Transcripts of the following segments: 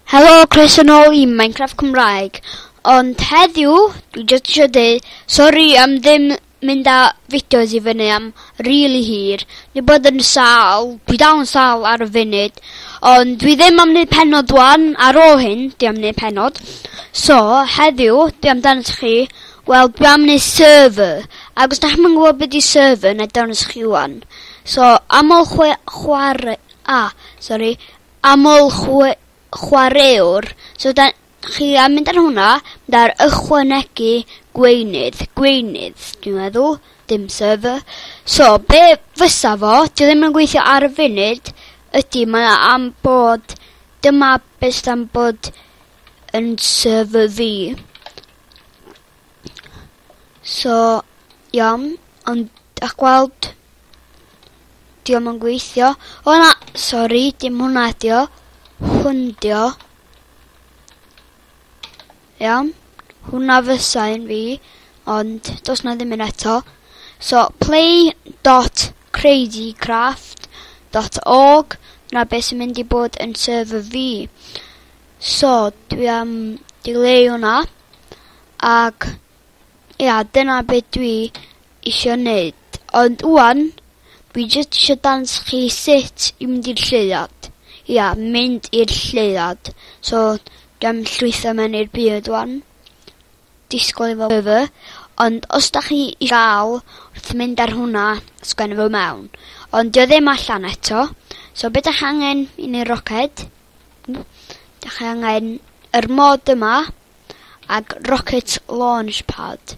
Helo croeso nôl i Minecraft Cymraeg Ond heddiw dwi jyst isio deu sori am ddim mynd â fideos i fyny am rili hir Ni bod yn sâl dwi dal yn sâl ar y funud Ond dwi ddim am neud penod wan ar ôl hyn dwi am neud penod So heddiw dwi am dangos i chi Wel dwi am neud server Ac os da chi'm yn gwybod beth di server na dangos i chi wan So am ôl chwe chwarae a sori Aml chwaraewr, so da chi am mynd ar hwnna, da'r ychwanegu gweinydd, gweinydd dwi'n meddwl, dim server. So be' fysa fo, 'di o ddim yn gweithio ar y funud, ydi mae o am bod, dyma be' sydd am bod yn server fi. So, iawn, ond dach gweld, diom yn gweithio. O na, sori, dim hwnna ydi o. Hwn di o. Iawn, hwnna fysa un fi, ond dos na ddim un eto. So, play dot crazy craft dot org, na beth sy'n mynd i bod yn server fi. So dwi am dileu hwnna ac ia dyna be dwi isio neud ond ŵan dwi jyst isio dangos chi sut i mynd i'r lleuad. Ia mynd i'r lleuad so dwi am llwytho mewn i'r byd ŵan. Disgwyl efo by fy ond os 'dach chi i ga'l wrth mynd ar hwnna sgwenno fo mewn ond 'di o ddim allan eto so be' 'dach angen i neu' roced Dach chi angen yr mod yma ag rocket launch pad.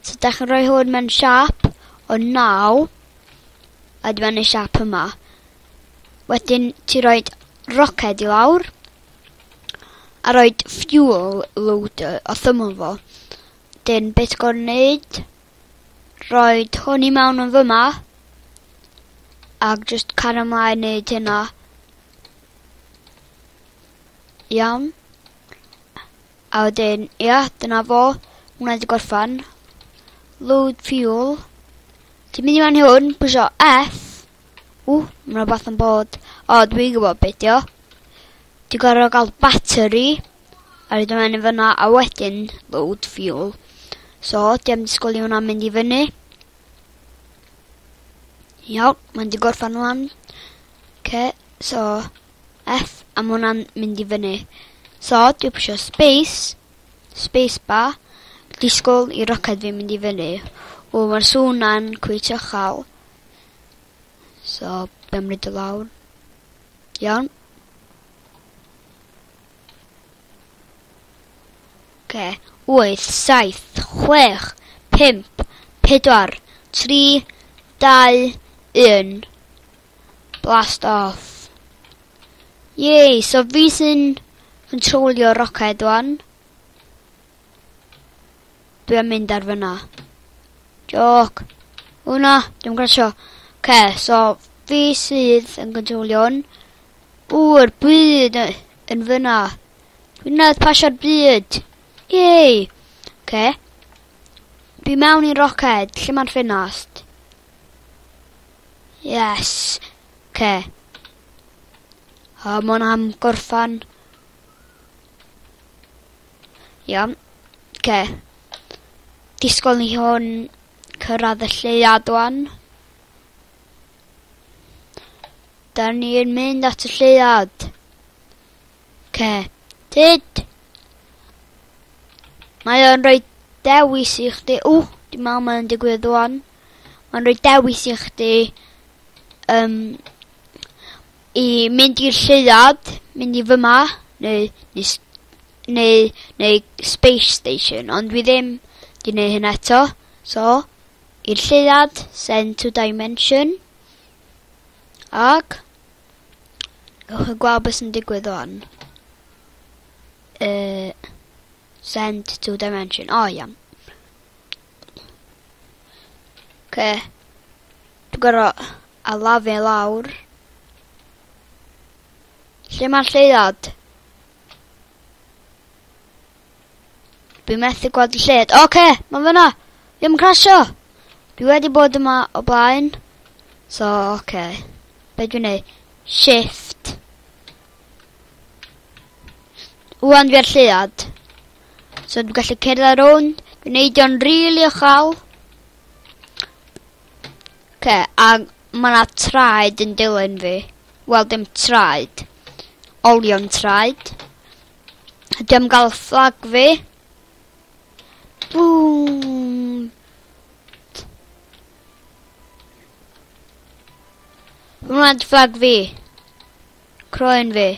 So dach chi'n rhoi hwn mewn siap o 9 a dyma ni siap yma. Wedyn ti roi roced i lawr a roi fuel loader o thymol fo. Dyn beth gorau wneud roi hwn i mewn yn fyma ac just cario ymlaen wneud hynna. Iawn. A wedyn, ia, dyna fo. Hwna wedi gorffan. Load fuel. Ti'n mynd i fan hwn, pwysio F. Ww, mae'n rhywbeth yn bod. O, dwi'n gwybod beth dio. Ti'n gorfod gael battery. A rydw i'n mynd fyna, a wedyn load fuel. So, di am disgwyl i hwnna mynd i fyny. Iawn, mae'n di gorffan hwnna. Oce so F a ma' hwnna'n mynd i fyny. So dwi pwsio space, space bar, disgwl i roced fi mynd i fyny. O ma'r sŵn 'na'n cweit uchal. So be' am roid o lawr? Iawn. Oce. Wyth, saith, chwech, pump, pedwar, tri, dau, un. Blast off. Yay, so fi sy'n controlio roced wan. Dwi am mynd ar fyna. Joc. O na, dim grasio. Ce, so fi sydd yn controlio hwn. W'r byd yn fyna. Dwi'n nad pasio'r byd. Yay. Ce. Dwi mewn i'n roced, lle mae'n ffenast. Yes. Ce. O, mon am gorffan. Iawn. Ce. Disgwyl ni hwn cyrraedd y lleuad o'n. Da ni'n mynd at y lleuad. Ce. Tyd. Mae o'n rhoi dewis i chdi. Ww, dim ond mae'n digwydd o'n. Mae'n rhoi dewis i chdi um, i mynd i'r lleuad, mynd i fyma, neu, neu, neu, neu Space Station, ond dwi ddim di wneud hyn eto. So, i'r lleuad, send to dimension, ac gwych yn gweld beth sy'n digwydd o'n. Uh, send to dimension, o oh, iawn. Oce. Dwi'n gor'o' alafu i lawr. Lle ma'r lleuad? Dwi methu gweld y lled. Oce, ma' fyna! Dwi am crasio! Dwi wedi bod yma o blaen. So, oce. Be' dwi'n neud? Shift. Wan fi ar lleuad. So dwi'n gallu cerdded rownd, dwi'n neud o'n rili uchel. Ce, a mae yna traed yn dilyn fi. Wel, dim traed. Olion traed. Dwi am gael fflag fi. Boom! Hwna'n fflag fi. Croen fi.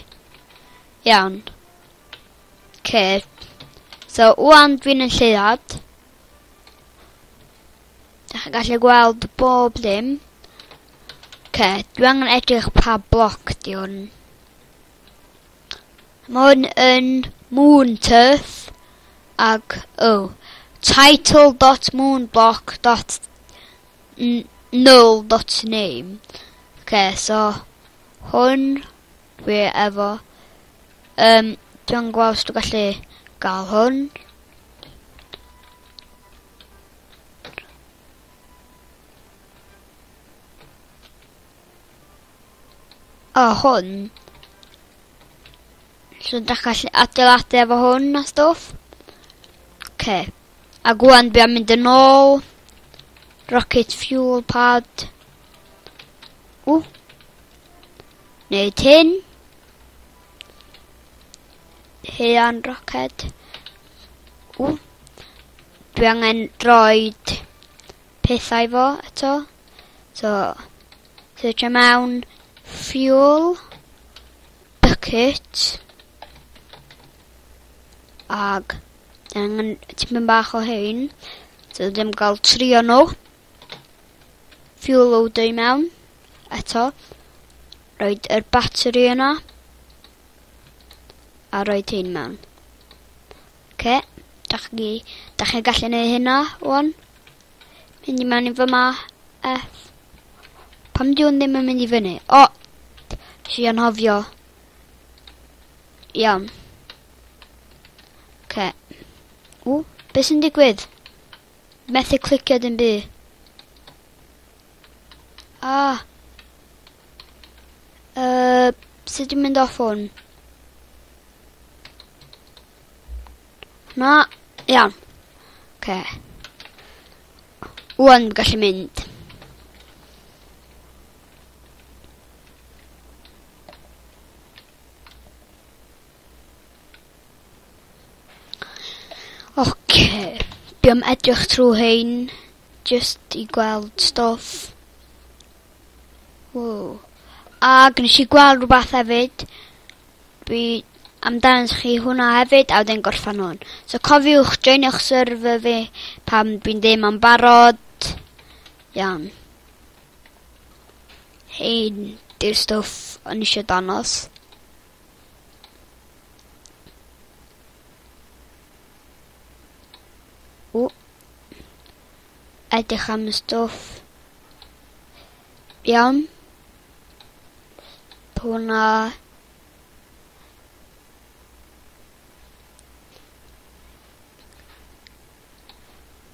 Iawn. Oce. So ŵan dwi'n yn lleuad. Dych chi'n gallu gweld bob dim. Oce, dwi angen edrych pa bloc di hwn. Mae hwn yn Moon Turf ac o oh, title.moonblock.null.name. Oce, so hwn Dwi efo yym dw'n gwel' os dwi gallu ga'l hwn. O hwn. So dach gallu adeiladu efo hwn a stwff. Oce. A gwan dwi am mynd yn ôl. Rocket fuel pad. Ww. Neu tin. Hean roced. Ww. Dwi angen droed pethau fo eto. So, search am awn fuel, bucket, ag angen tipyn bach o hyn. So, ddim gael trio nhw. Fuel loader i mewn. Eto. Roed yr battery yna. A roed hyn mewn. Oce. Da chi, da chi gallu neud hynna, wan. Mynd i mewn i fy ma. F. Pam di hwn ddim yn mynd i fyny? O! Si anhofio. Iawn. Oce. Okay. O, beth sy'n digwydd? Methu clicio dim by. Ah. Uh, sut dwi'n mynd off hwn? Na, iawn. Oce. Okay. Wan, gallu mynd. Oce. Dwi am edrych trw rhein jyst i gweld stwff. Ww. Ag nes i gweld rwbath hefyd. Dwi am dangos chi hwnna hefyd a wedyn gorffan hwn. So cofiwch joinio'ch server fi pam dwi'n deud ma'n barod. Iawn. Hei, di'r stwff o'n i eisiau dangos. O. Edrych am y stwff. Iawn. Pwna.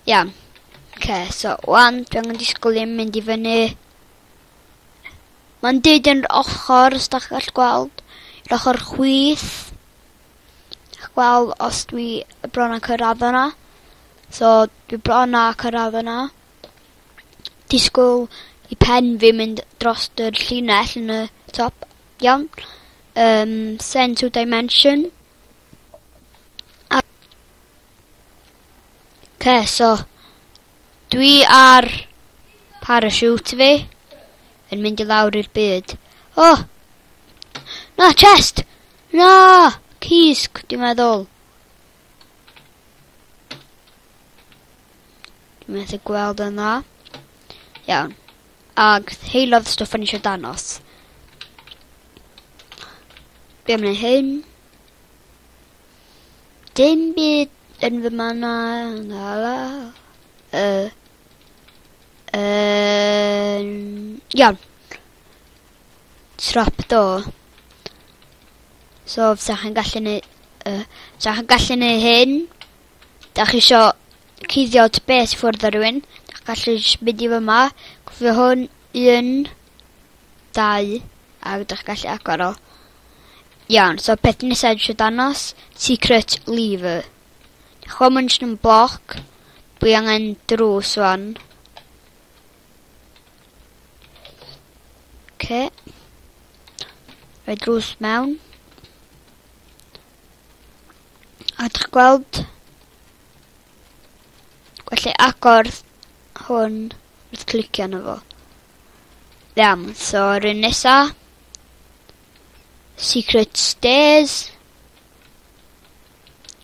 Iawn. Okay, so wan, dwi angen disgwyl i'n mynd i fyny. Mae'n dyd yn yr ochr, os da chi'n gallu gweld, yr ochr chwith. Chi'n gweld os dwi bron â cyrraedd yna. So, dwi bron â cyrraedd yna. Disgwyl i pen fi mynd dros yr llinell yn y top. Iawn. Um, send to dimension. A Ok, so dwi ar parachute fi yn mynd i lawr i'r byd. Oh! Na, chest! Na! Cysg, dwi'n meddwl. Dwi'n meddwl gweld yn dda. Iawn. Ag heilodd stwff yn eisiau danos. Be am neud hyn? Dim byd yn fy manna ngala. Uh, um, iawn. Trapdoor. So, fysa chi'n gallu neud... Uh, fysa chi'n gallu neud hyn. Da chi isio cuddio at beth ffwrdd ar rhywun. Da gallu mynd i fy ma. Cofio hwn. Un. Dau. Ac da chi gallu agor o. Iawn so peth nesa dwi isio danos secret leaver. Ch'mo' ma'n jyst yn bloc. Dwi angen drws ŵan. Oce. Rhoi drws mewn. A dych gweld Felly agor hwn wrth clicio arno fo. Iawn, so yr un nesa. Secret stairs.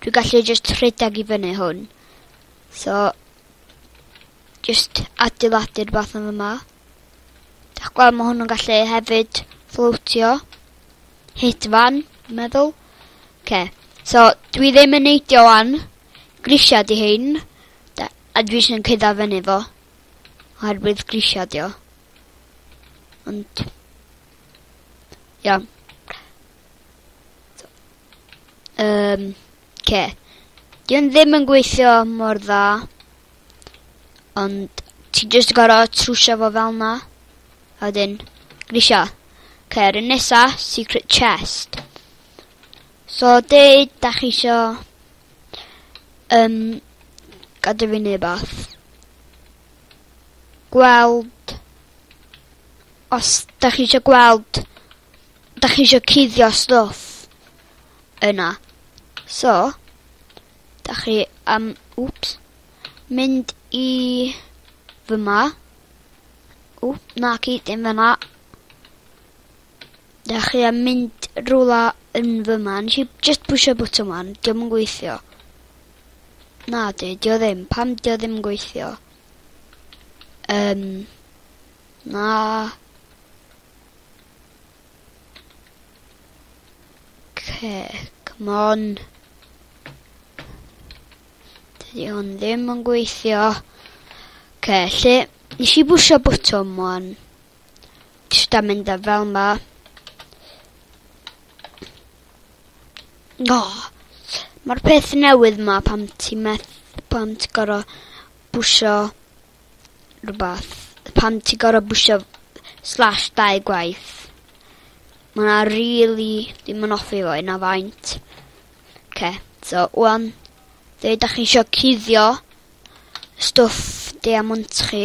Dwi'n gallu just rhedeg i fyny hwn. So, just adeiladu'r bath yn yma. Dach gweld mae hwn yn gallu hefyd fflwtio. Hit fan, meddwl. Okay. So, dwi ddim yn neidio wan. Grisiad i hyn. Da, a dwi eisiau cydda fyny fo. Oherwydd grisiad i o. Ond... Iawn. Um, ce. Di o'n ddim yn gweithio mor dda. Ond ti jyst yn gorau trwsio fo fel na. A wedyn, grisio. Ce, rhywun nesa, secret chest. So, dweud, da chi isio... Um, gadw fi neu bath. gweld os da chi eisiau gweld da chi eisiau cuddio stwff yna. So, da chi am, um, wps, mynd i fyma. O, na chi, dim fyna. Da chi am mynd rhywle yn fyma. Nes i just pwysio bwtwm wan, diolch yn gweithio. Nadi, dio ddim. Pam dio ddim yn gweithio? Um, na. Okay, come on. Dydy hwn ddim yn gweithio. Okay, lle... Nes i bwysio bwtwm o'n... Jyst am mynd â fel 'ma. O! Ma'r peth newydd 'ma pan ti meth- pan ti gor'o' bwsio rwbath. Pan ti gor'o' bwsio slash dau gwaith. Ma' wnna rili, dwi'm yn offi fo hynna faint. 'K, so ŵan, fe ydach chi isio cuddio stwff Diamond chi,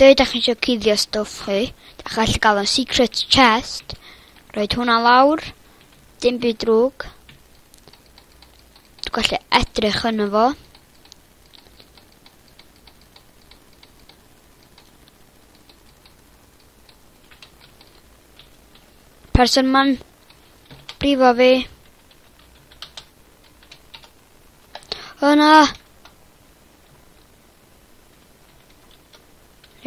Dw i dach eisiau cuddio stwff chi, dach gallu gael o'n secret chest. Roed hwnna lawr, dim byd drwg. Dwi'n gallu edrych yn fo. Person ma'n brifo fi. O na!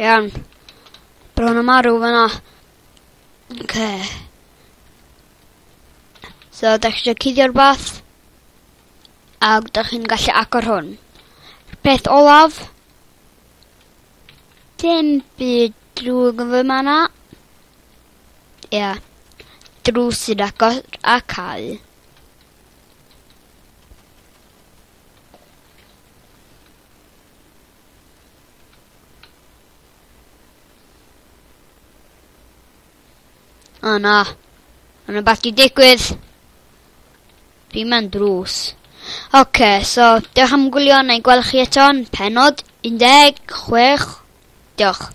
Iawn. Bron yn marw fan 'na. Oce. So, da chi eisiau cuddio rhywbeth? A da chi'n gallu agor hwn. Peth olaf. Dim byd drwg yn fy ma na. Ia. Yeah. Drws sy'n agor a cael. O oh, na. Mae'n rhywbeth di digwydd. Fi mewn drws. Oce, okay, so diolch am gwylio neu gweld chi eto'n penod 16. Diolch.